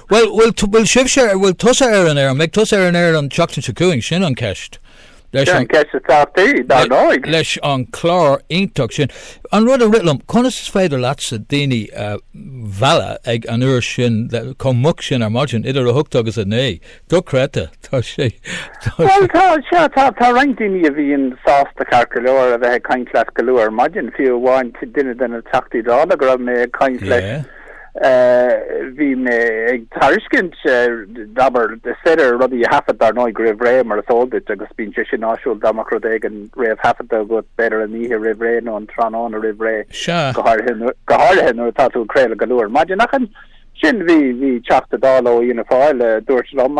Bhuel, bhfuil, bhfuil sibhse, bhfuil tusa ar an aer, an mbeidh tusa ar an aer an tseachtain seo chugainn, sin an ceist. Sin an ceist atá tí, dar ndóigh. Leis an chlár iontach sin. An rud a rith liom, conas is féidir leatsa daoine a mhealladh ag an uair sin chomh moch sin ar maidin, idir a hocht agus a naoi? Dochreidte, tá sé. Bhuel, tá, sea, tá, tá roinnt daoine a bhíonn sásta ceart go leor a bheith ag caint leat go luath ar maidin, fiú amháin duine de na Teachtaí Dála go raibh mé ag caint leis. Bhí mé ag tairiscint, abair, gur féidir rudaí a thaifead, dar ndóigh, roimh ré, mar is eol duit, agus bíonn sé sin áisiúil dá mbeadh rud éigin réamhthaifeadta agat, b'fhéidir an oíche roimh ré nó an tráthnóna roimh ré, go háirithe nuair atá tú ag craoladh go luath ar maidin. Ach ansin bhí Teachta Dála ó Fhianna Fáil a dúirt liom,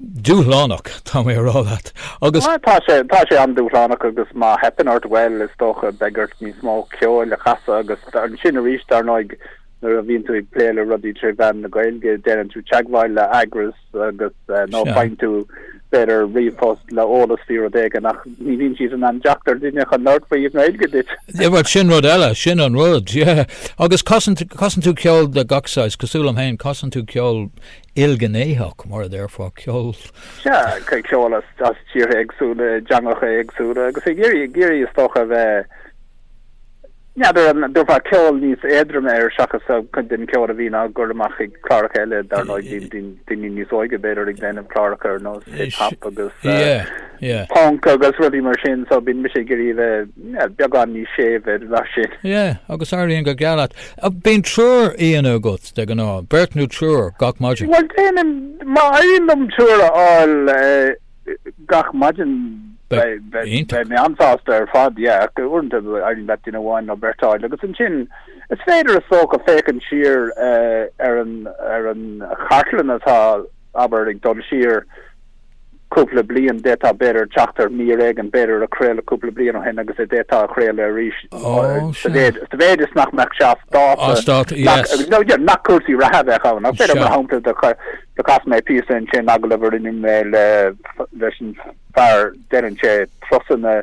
Dúshlánach, tá mé a rá leat, agus. Tá sé, tá sé an-dúshlánach agus má theipeann ort, bhuel, is dócha, beidh ort níos mó ceoil a chasadh agus ansin arís, dar ndóigh, nuair a bhíonn tú ag plé le rudaí tré mheán na Gaeilge, déanann tú teagmháil le heagras agus nó faigheann tú b'fhéidir ríomhphost le eolas faoi rud éigin ach ní bhíonn siad in ann teacht ar duine chun labhairt faoi i nGaeilge duit. Bhuel sin rud eile, sin an rud, yeah. Agus casann, casann tú ceol de gach saghas, cosúil liom féin, casann tú ceol ilghnéitheach, mar a déarfá, ceol. Sea, ceol as tíortha éagsúla, i dteangacha éagsúla agus ag iarraidh, ag iarraidh is dócha a bheith, n'fheadar an dtabharfá ceol níos éadroime air seachas cuid den cheol a bhíonn á chur amach ag cláracha eile, dar ndóigh, bíonn daoine níos óige b'fhéidir ag déanamh cláracha ar nós hip-hop agus punk agus rudaí mar sin, so bíonn mise ag iarraidh a bheith beagán níos séimhe ná sin. Sea, agus éiríonn go geal leat. Bíonn triúr aíonna agat de ghnáth, beirt nó triúr gach maidin. Bhuel, déanaim, má éiríonn liom triúr a fháil gach maidin, beidh mé an-sásta ar fad, yeah, ach uaireanta éiríonn leat duine amháin nó beirt a fháil agus ansin is féidir, is dócha, féachaint siar ar an chartlann atá, abair, ag dul siar, cúpla bliain. D'fhéadfá b'fhéidir teacht ar mhír éigin, b'fhéidir a craoladh cúpla bliain ó shin agus a d'fhéadfá a chraoladh arís sa mhéid is nach mbeadh sé as dáta, nach cúrsaí reatha a bheadh ann. Ach b'fhéidir, mar shampla, do chas mé píosa ansin, agallamh a rinne mé leis an fear deireann sé trusanna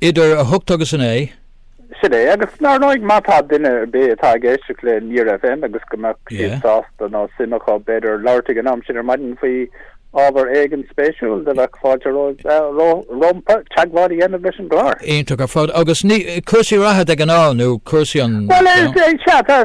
Idir a hocht agus a naoi. Sin é, agus dar ndóigh má tá duine ar bith atá ag éisteacht le Near FM agus go mbeadh siad sásta nó suim acu, b'fhéidir, labhairt ag an am sin ar maidin faoi ábhar éigin spéisiúil do bheadh fáilte rompu teagmháil a dhéanamh leis an gclár. Iontach ar fad, agus ní cúrsaí reatha de ghnáth nó cúrsaí an. Bhuel, is é, sea, tá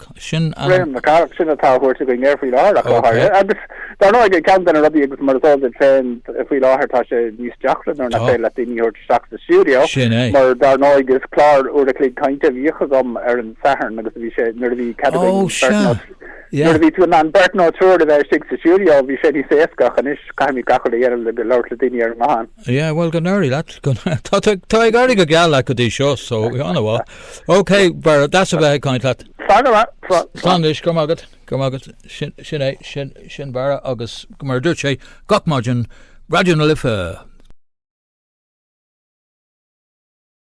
Ach sin an. Graham na Carraige, sin atá á thabhairt againn air faoi láthair, ach le haire. Agus, dár ndóigh, ceann de na rudaí, agus mar is eol duit féin, faoi láthair tá sé níos deacra nuair nach féidir leat daoine a thabhairt isteach sa stiúideo, mar dár ndóigh, is clár uair a chloig cainte a bhíodh agam ar an Satharn agus a bhí sé, nuair a bhí cead againn beirt nó, nuair a bhí tú in ann beirt nó triúr a bheith istigh sa stiúideo, bhí sé níos éasca, ach anois caithfimid gach rud a dhéanamh le go labhairt le daoine ar an nguthán. Yeah, bhuel go n-éirí leat. Tá ag éirí go geal leat go dtí seo, so ana-mhaith. OK, Barra, deas a bheith ag caint leat. Slán go raibh, slán. Slán anois, go raibh maith agat, go raibh maith agat. Sin é, sin, sin Barra agus mar a dúirt sé, gach maidin, Raidió na Life.